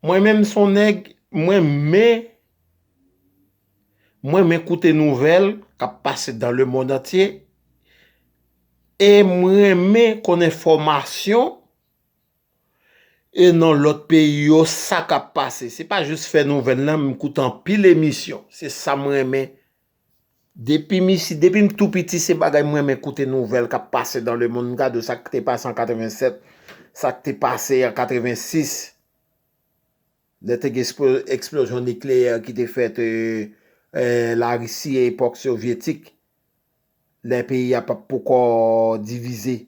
Mwen menm son nèg mwen men mwen men koute nouvèl kap pase dan le mond antye e mwen renmen konn enfòmasyon e nan lòt peyi yo sa kap pase se pa jis fè nouvèl nan m koute anpil emisyon se sa m renmen Depim isi, depim tou piti se bagay m renmen koute nouvèl kap pase dan le mond, m gade sa k te pase an 87, sa k te pase an 86 lè te gen eksplozyon nikleyè ki te fèt la Risi e epòk sovyetik lè peyi a pat poko divize.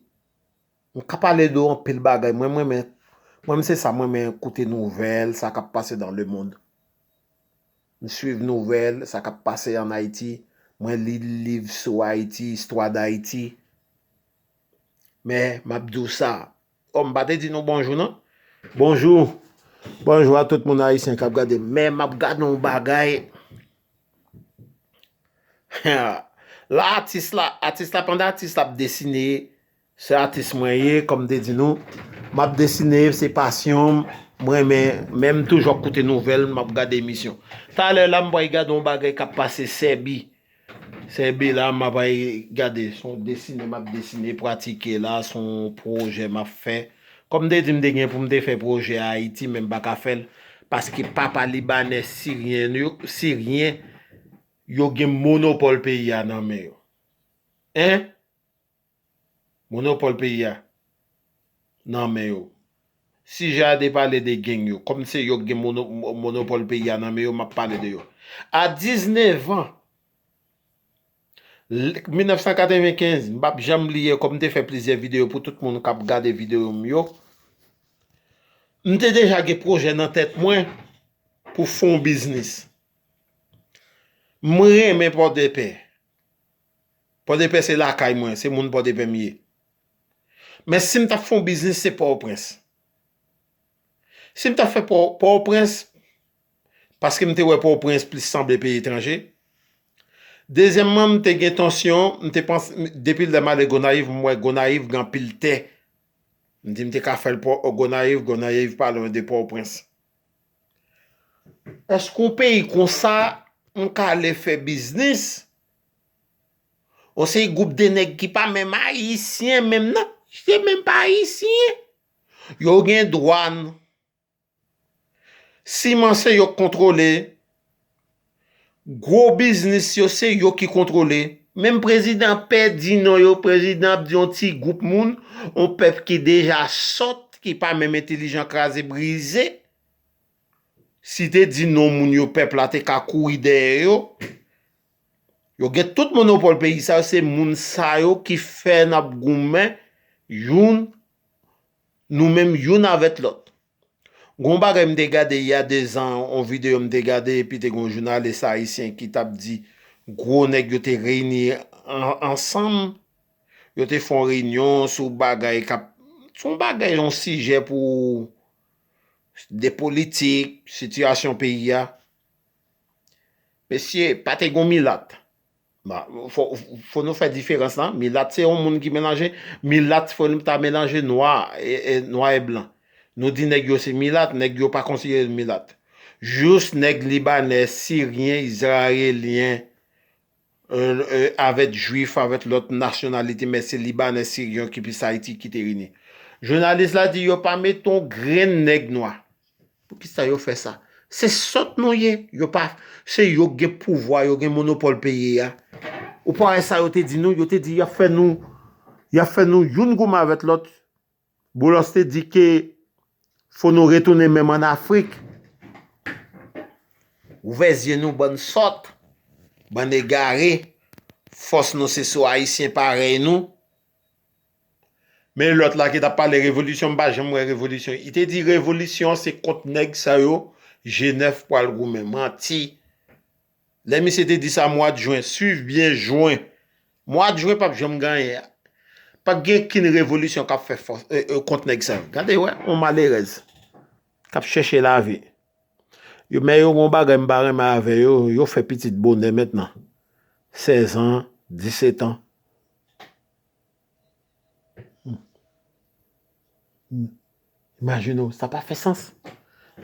M ka pale de anpil bagay, mwen m renmen, mwen m se sa m renmen koute nouvèl sa kap pase dan le mond. M swiv nouvèl sa kap pase an Ayiti, mwen li liv sou Ayiti, istwa dayiti. Men map di w sa, oh m pa te di nou bonjou non. Bonjou, bonjou a tout moun ayisyen kap gade m. Men map gade yon bagay, la atis la, atis la pandan atis la ap desine, Se atis mwen ye kòm m te di nou m ap desine se pasyon m m renmen men m toujou ap koute nouvèl m ap gade emisyon talè la m pral gade yon bagay k ap pase sèbi sèbi la m pral gade se yon desine m ap desine pratike la se yon pwojè m ap fè kòm m te di m te gen pou m te fè pwojè a ayiti men m pa ka fè l paske papa libanè siryen yo siryen yo gen monopòl peyi a nan men yo en. Monopòl peyi a nan men yo. Si Jade pale de geng yo, kòm se yo k gen monopòl peyi a nan men yo, m ap pale de yo. A 19 an, 1995, m p ap janm bliye kòm m te fè plizyè videyo pou tout moun k ap gade videyo m yo, m te deja gen pwojè nan tèt mwen pou fon biznis. M renmen Pòdepè. Pòdepè se lakay mwen, se moun Pòdepè m ye. Men si m t ap fè yon biznis se Pòtoprens. Si m t ap fè Pòtoprens, paske m te wè Pòtoprens plis sanble peyi etranje. Dezyèmman, m te gen tansyon, m te panse, depi lè m ale Gonayiv, m wè Gonayiv gen anpil tè. M di m te ka fè l Gonayiv, Gonayiv pa lwen de Pòtoprens. Paske yon peyi konsa, yon ka ale fè biznis, yon seri gwoup de nèg ki pa menm ayisyen menm nan, se menm pa ayisyen, yo gen dwàn, siman se yo k kontwole, Gwo biznis yo se yo ki kontwole. Menm prezidan an pè di non yo, prezidan ap di yon ti gwoup moun, yon pèp ki deja sòt, ki pa menm entelijan kraze brize. Si te di non moun yo pèp la te ka kouri dèyè yo. Yo gen tout monopòl peyi sa yo, se moun sa yo ki fè n ap goumen youn nou menm youn avèt lòt. Gon bagay m te gade ya 2 zan on video m te gade epi te gon jounalis ayisyen ki tap di gwo nèg yo te reyini ansanm yo te fon reyinyon sou bagay kap son bagay yon sijè pou de politik sitiyasyon peyi ya mesye pa te gon milat. Fò nou fè diferans la, milat se yon moun ki melanje, milat fò nou ta melanje nwa e blan. Nou di nèg yo se milat, nèg yo pa konsidere yo milat. Jous nèg libanè, siryen, izrayelyen, avèk jwif, avèk lòt nasyonalite, men se libanè, siryen ki plis Ayiti ki te vini. Jounalis la di yo pa mete yon grenn nèg nwa. Poukisa yo fè sa? Se sòt nou ye, yo pa, se yo k gen pouvwa, yo gen monopòl peyi a. Ou pa wè sa yo te di nou, yo te di y ap fè nou, y ap fè nou youn goumen avèk lòt. Boulos te di ke fò nou retounen menm an Afrik. Ouvè zye nou bann sòt, bann egare, fòs nou se sou Ayisyen parèy nou. Men lòt la ki tap pale revolisyon m pa janm wè revolisyon i te di revolisyon se kont nèg sa yo jenèf pwal goumen manti lè misye te di sa mwad jwen swiv byen jwen mwad jwen pap janm gen anyen pap gen kin revolisyon kap fè fòs kont nèg sa yo gade wè yon malerèz kap chèche lavi yo men yo gon bagay m pa renmen avè yo yo fè pitit bonè mentnan sèzan disetan Imajine w, sa pa fè sans.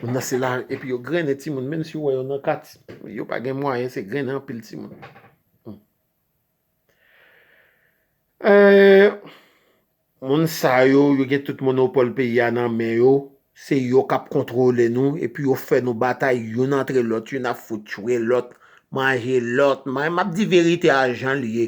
Moun nan se la, epi yo grennen ti moun, menm si w wè yo nan kat, yo pa gen mwayen, se grennen anpil ti moun. Moun sa yo, yo gen tout monopòl peyi a nan men yo, se yo k ap kontwole nou, epi yo fè nou batay youn antre lòt, youn ap fout tchwe lòt, manje lòt, m ap di verite a jan l ye.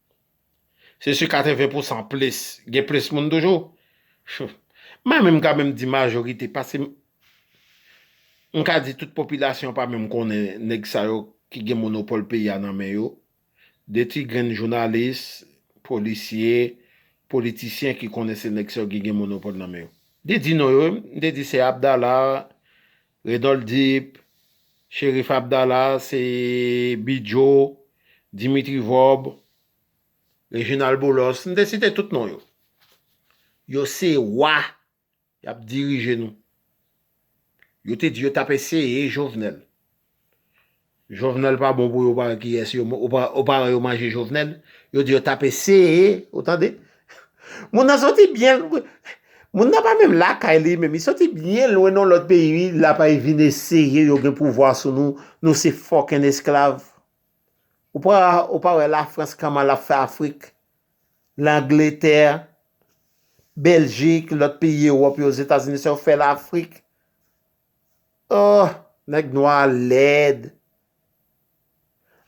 Se si 80 pou san plis, gen plis moun toujou. Mwen menm ka menm di majorite, paske m ka di tout popilasyon pa menm konnen nèg sa yo ki gen monopòl peyi a nan men yo. De ti grenn jounalis, polisye, politisyen ki konnen se nèg sa yo ki gen monopòl nan men yo. Li di non yo, m te di se Abdala, Renold Deep, Cherif Abdala, se Bidjo, Dimitri Vorb, Reginald Boulos, m te site tout non yo. Yo se wa, y ap dirije nou. Yo te di yo t ap eseye Jovenel. Jovenel pa bon pou yo pa kiyes yo o paran yo manje jovenel yo di yo tap eseye ou tande moun nan soti byen moun nan pa menm lakay li menm li soti byen lwen nan lot peyi wi lapa e vin eseye yo gen pouvwa sou nou nou se fokin esklav ou pa ou pa wè la frans kman lap fè afrik langletè beljik lot peyi ewop yo zetazini sa yo fè lafrik Ohh nèg nwa a lèd.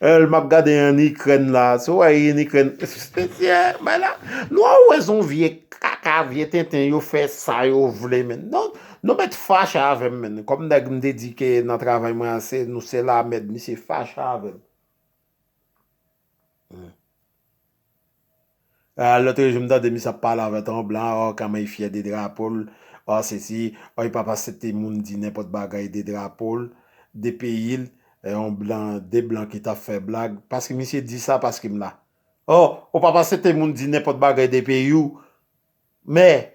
Eul map gade en ikrèn la sou wè yn ikrèn mesye bay la nou an wè son vye kaka vye tenten yo fè sa yo vle menn non nou mèt fache avèm menn kòm nèg m te di ke nan travay mwen an se nou se la mèd misye fache avèm. Lotre jou m tande misye ap pale avè ton blan oh kamay fyè de drapo l oh sesi oh li pap asepte moun di nenpòt bagay de drapo l de peyi l yon blan de blan ki tap fè blag paske misye di sa paske m la oh ou pap asepte moun di nenpòt bagay de peyi w. Mè,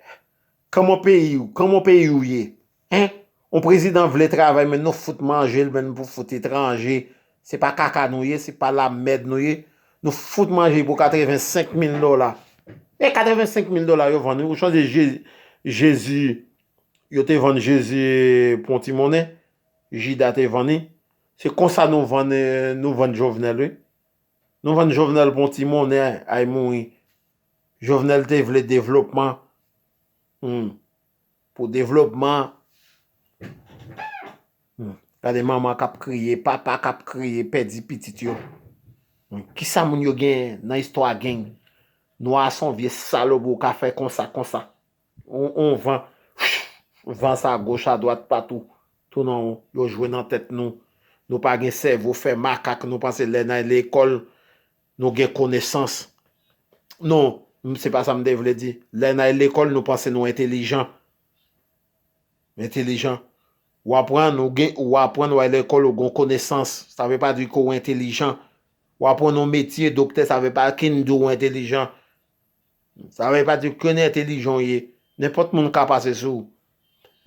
kòman peyi ou, kòman peyi ou ye? Hein? On prezidan vle travay men nou fout manje l men nou pou fout etranje, se pa kaka nou ye, se pa lamèd nou ye, nou fout manje pou 85 mil dola. E 85 mil dola yo vann wi, ou sonje Jezi, yo te vann Jezi pou yon ti monnen, Jida te vann li, se konsa nou vann, nou vann Jovenel wi. Nou vann jovenel pou yon ti monnen ay mouri jovenel te vle devlopman humm pou devlopman humm gade manman kap kriye papa kap kriye pèdi pitit yo kisa moun yo gen nan istwa geng nwa son vye salop ou ka fè konsa konsa. On van Whoo van sa goch a dwat patou tou nan yo jwe nan tèt nou nou pa gen sèvo fè makak nou panse lè nan lekòl nou gen konesans non m se pa sa m te vle di lè nan lekòl nou panse nou entelijan entelijan w aprann ou gen ou aprann ou al lekòl ou gen konesans sa vle pa di ke ou entelijan w aprann on metye doktè sa vle pa di ke ou entelijan. Sa vle pa di kèn entelijan w ye, nenpòt moun ka pase sou ou.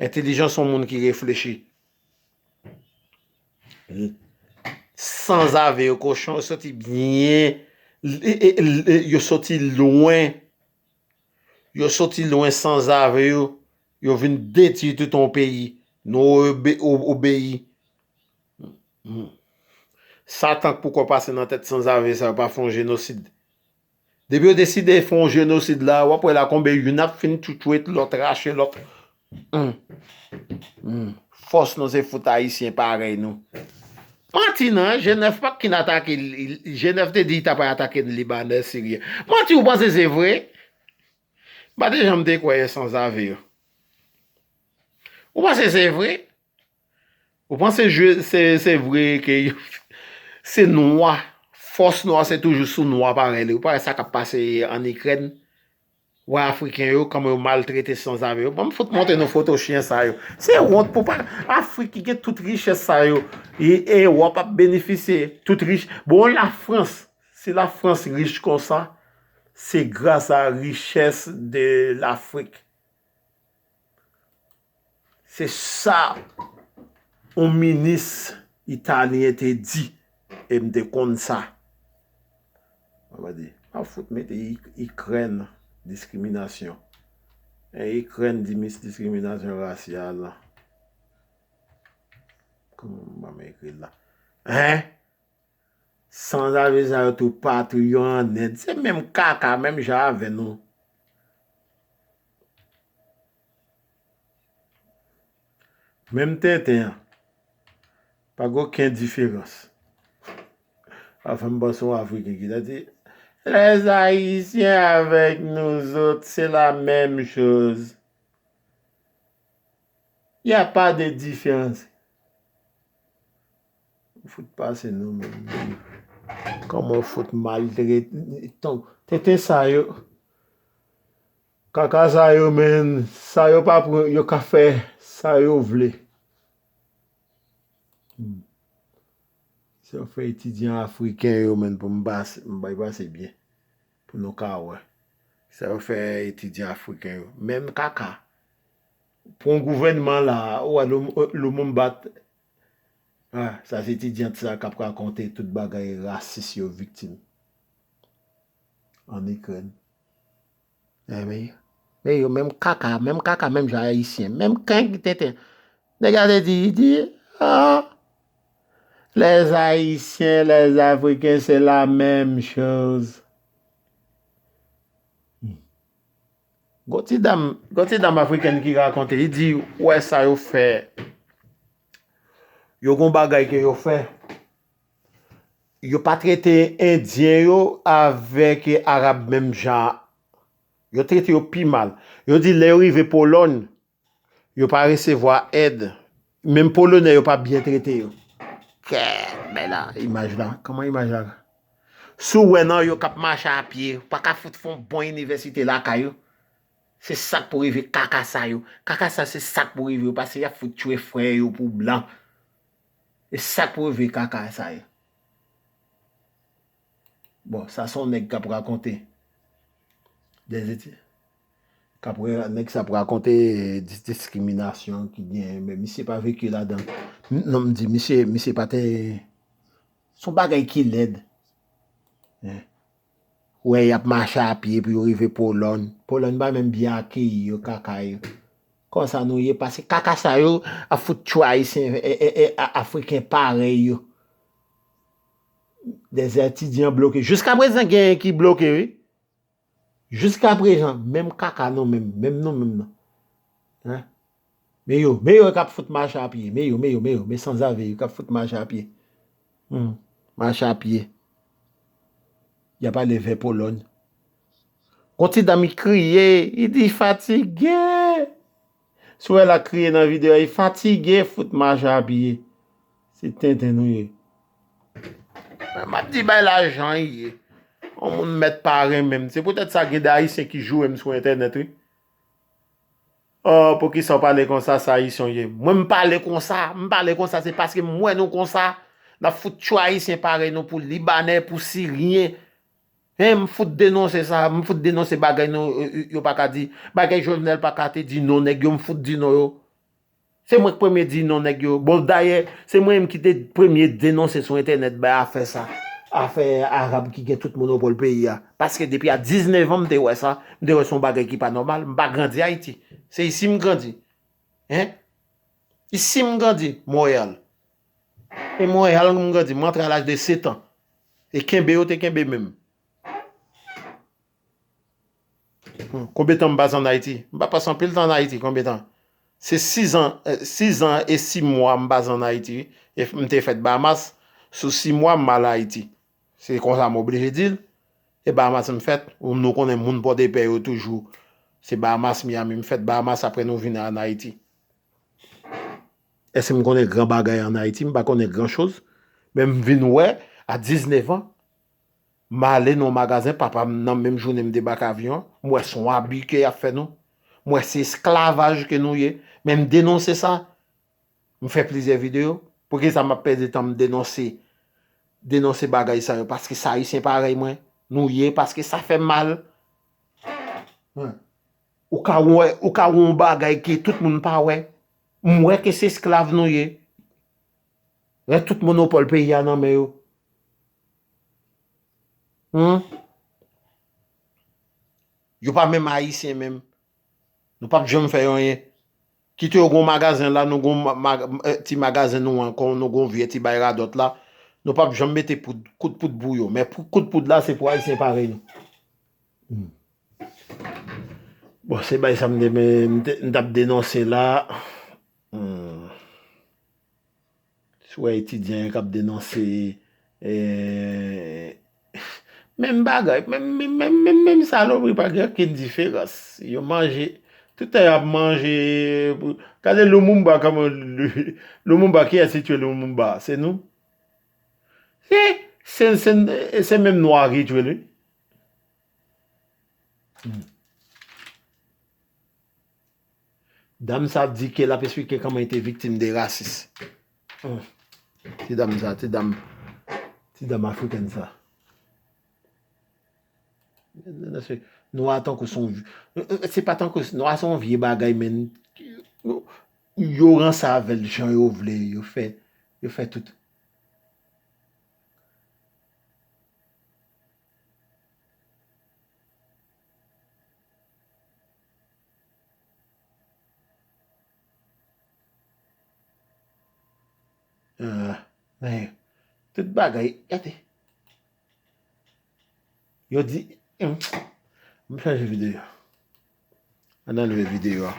Entelijan se yon moun ki reflechi. Sanzave yo, kochon yo soti byen, yo soti lwen, yo soti lwen sanzave yo, yo vin detui tout yon peyi. Nou obeyi. Satan k poko pase nan tèt sanzave sa yo pa fon jenosid. Depi yo deside fon jenosid la wap wè la konbe youn ap fin twitwit lòt rache lòt humm fòs nou se fout ayisyen parèy nou manti nan jenèf pat kin atake jenèf te di li tapral atake libanè siryen manti ou panse se vre mpa te janm te kwè sanzave yo ou panse se vre. Ou panse jwe se vre ke yo se nwa fòs nwa se toujou sou nwa parèy li ou pa wè sa kap pase an ikrèn wè afriken yo kòman yo maltrete sanzave yo banm fout montre nou foto chyen sa yo se wont pou pa afrik ki gen tout richès sa yo e wòp ap benifisye tout rich bon la frans si la frans rich konsa se gras a richès de lafrik. Se sa yon minis italyen te di e m te konn sa. Mwen pa di, pa fout mete Ikrèn diskriminasyon. E Ikrèn di mis diskriminasyon rasyal. Kouman m ekri l la? Hein? Sanzave sa yo tou patou yo an end se menm kaka menm jan avè nou. Menm tenten an. Pa gen oken diferans. Wap fèm panse yon afriken ki ta di Les haïtiens avec nous autres c'est la même chose. Il ya pas de différence. Ou fout pase nou menm. Koman ou fout maltrete. Tenten sa yo. Kaka sa yo menn. Sa yo pa pran yo ka fè sa yo vle. Se yo fè etidyan afriken yo menn pou m pase m bay pase byen. Pou nou ka wè. Sa yo fè etidyan afriken yo. Menm kaka. Pran gouvènman la. Ou wè Lumumba. Ah sa se etidyant sa kap rakonte tout bagay rasis yo viktim an ikrèn. Enben men yo menm kaka menm kaka menm jan ayisyen menm keng tenten nèg la te di li di ah les ayisyen les afriken se la menm choz. Gon ti dam gon ti dam afrikèn ki rakonte li di ou wè sa yo fè yo gon bagay ke yo fè yo pa trete endyen yo avèk arab menm jan yo trete yo pi mal yo di lè yo rive polòn Yo pa resevwa èd. Menm polonè yo pa byen trete yo. Kèèt bay la imaj la. Kòman imaj la. Si w wè nan yo k ap mache a pye, ou pa ka fout fè yon bon inivèsite lakay ou? Se sa k pou rive kaka sa yo. Kaka sa se sa k pou rive yo pase y ap fout tchwe frè yo pou blan. Se sa k pou rive kaka sa yo. Bon sa son nèg kap rakonte des eti kap wè nèg sa ap rakonte dis diskriminasyon ki gen men misye pa veki ladan non m di misye misye pa te son bagay ki lèd wè yap mache a pye pou yo rive polòn polòn pa menm byen akeyi yo kaka yo konsa nou ye pase kaka sa yo ap fout tchwa ayisyen e e afriken parèy yo. Des etidyan bloke. Jiska prezan genyen ki bloke wi. Jiska prezan menm kaka nou menm. Menm nou menm nan. Hein. Men yo. Men yo kap fout mache a pye. Men yo. Men yo. Men yo. Men sanzave yo kap fout mache a pye. Hum. Mache a pye. Yap ale vè Polòny. Gon ti dam ki kriye. Li di fatige. Sorel a kriye nan video a li fatige fout mache a piye se tenten nou ye. Mwen map di bay la jan li ye. On moun mèt pa renmenm se poutèt sa gen de ayisyen ki jourem sou entènèt wi oh poukisaw pale konsa sa ayisyen w ye mwen m pale konsa m pale konsa se paske m wè nou konsa nap fout tchyo ayisyen parèy nou pou libanè pou siryen Hein m fout denonse sa, m fout denonse bagay nou yo pa ka di, bagay Jovenel pa ka te di non nèg yo m fout di non yo. Se mwen k premye di non nèg yo. Bon dayè se mwen menm ki te premye denonse sou entènèt bay afè sa, afè Arab ki gen tout monopòl peyi a. Paske depi a 19 an m te wè sa, m te wè se yon bagay ki pa nòmal, m pa grandi Ayiti. Se isi m grandi. Hein? Isi m grandi, Montréal. E mwen wè alan m grandi, m rantre a laj de setan. E kenbe yo te kenbe menm. Konbyen tan m pase an Ayiti? M pa pase anpil tan an Ayiti, konbyen tan? Se sizan, sizan e simwa m pase an Ayiti wi. E m te fèt Bahamas, sou simwa m al Ayiti. Se konsa m oblije di l. E Bahamas m fèt, ou nou konnen moun Pòdepè yo toujou. Se Bahamas, Miyami m fèt, Bahamas apre nou vin an Ayiti. Èske m konnen gran bagay an Ayiti? M pa konnen gran choz. Men m vin wè, a 19 an, m ale nan yon magazen, papa m nan menm jounen m debake avyon an, m wè se yon abi ke y ap fè nou. M wè se esklavaj ke nou ye. Men m denonse sa. M fè plizyè videyo. Poukisa m ap pèdi tan m denonse, denonse bagay sa yo? Paske se Ayisyen parèy mwen nou ye, paske sa fè m mal. Ou ka wè, ou ka wè yon bagay ke tout moun pa wè. M wè ke se esklav nou ye. Lè tout monopòl peyi a nan men yo. Hum. Yo pa menm Ayisyen menm. Nou pap janm fè anyen. Kite yo gon magazen la nou gon ti magazen nou an kon nou gon vye ti bay radòt la nou pap janm mete poud kout poud pou yo men kout poud la se pou ayisyen parèy nou humm bon se bay sa m te m tap denonse la humm. Si w wè etidyan yo k ap denonse menm bagay, menm salopri, pa gen okenn diferans. Yo manje, tout tan y ap manje. Gade Lumumba kòman Lumumba, kiyès ki tue Lumumba? Se nou. Se menm nwa ki tue l wi. Dam sa ap di ke lap esplike kòman li te viktim de rasis. Ohh. Ti dam sa, ti dam, ti dam afrikèn sa. Nwa tankou son, se pa tankou, nwa son vye bagay men, yo ranse avè l jan yo vle, yo fè, yo fè tout. Men, tout bagay, gade. Yo di, mwen chanje videyo. An nan leve videyo a.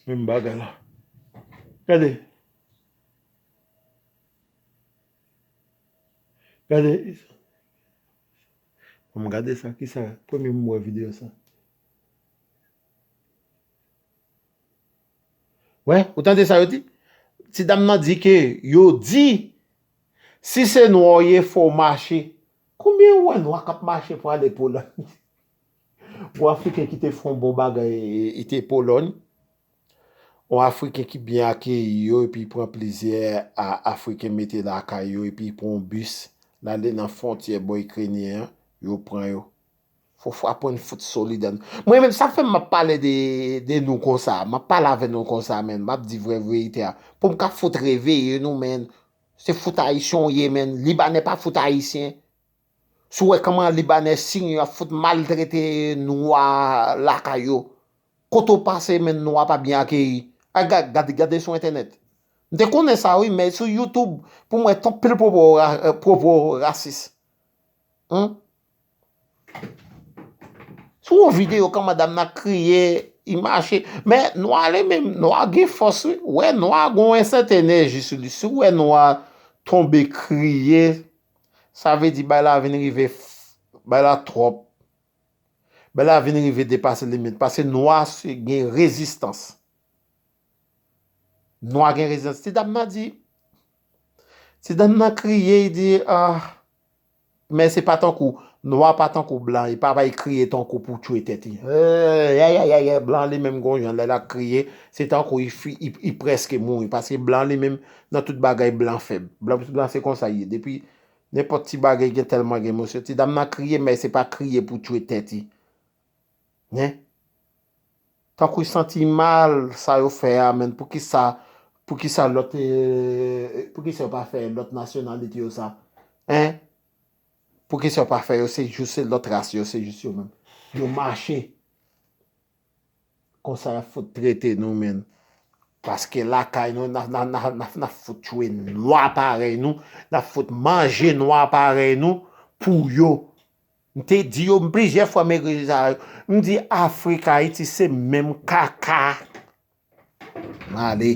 Menm bagay la. Gade. Gade. Banm gade sa kisa premye m wè video sa. Wè ou tande sa yo di ti dam nan di ke yo di si se nwa w ye fò w mache konbyen ou wè nwa kap mache pou ale polòy bon afriken ki te fon bon bagay e te polòy. On afriken ki byen akeyi yo epi pran plizyè a afriken mete lakay yo epi pran on bis lale nan fontyè bò ikrenyen an yo pran yo fo fwa pwen n fout solid an mwen menm sa fèm map pale de nou konsa map pale avè nou konsa menn map di vrè verite a poum ka fout reveye nou menn se fout ayisyen w ye menn libanè pa fout ayisyen sou wè kòman libanè siy yo ap fout maltrete nwa lakay yo Kote w pase men nwa pa byen akeyi. Ay gad gad gade sou entènèt. M te konnen sa wi men sou youtube pou m wè ton pil pwopo pwopo rasis humm. Sou yon video kan madam nan ap kriye li mache men nwa li menm nwa gen fòs wi wè nwa gon ensèten enèji sou li si w wè nwa tonbe kriye sa vle di bagay la vin rive bay la twòp. Bela vin rive depase limit pase nwa se gen rezistans. Nwa gen rezistans. Ti dam nan di, ti dam nan kriye li di ah men se pa tankou nwa pa tankou blan li pa bay kriye tankou pou tchwe tèt li. Eeh ayayayay blan li menm gon jan lè lap kriye se tankou li preske mouri paske blan li menm nan tout bagay blan fèb. Blan se konsa li ye depi Nenpòt ti bagay gen tèlman gen emosyon ti dam nan kriye men se pa kriye pou tchwe tèt i hein tankou santi mal sa yo fè a menn poukisa poukisa lòt poukisa yo pa fè lòt nasyonalite yo sa hein poukisa yo pa fè yo se jous se lòt ras yo se jous yo menm yo mache Konsa yap fout trete nou menn. Paske lakay nou nap fout tchwe nwa parèy nou, nap fout manje nwa parèy nou pou yo. M te di yo plizyè fwa m ekri sou sa yo. M di afrik ayiti se menm kaka. M ale.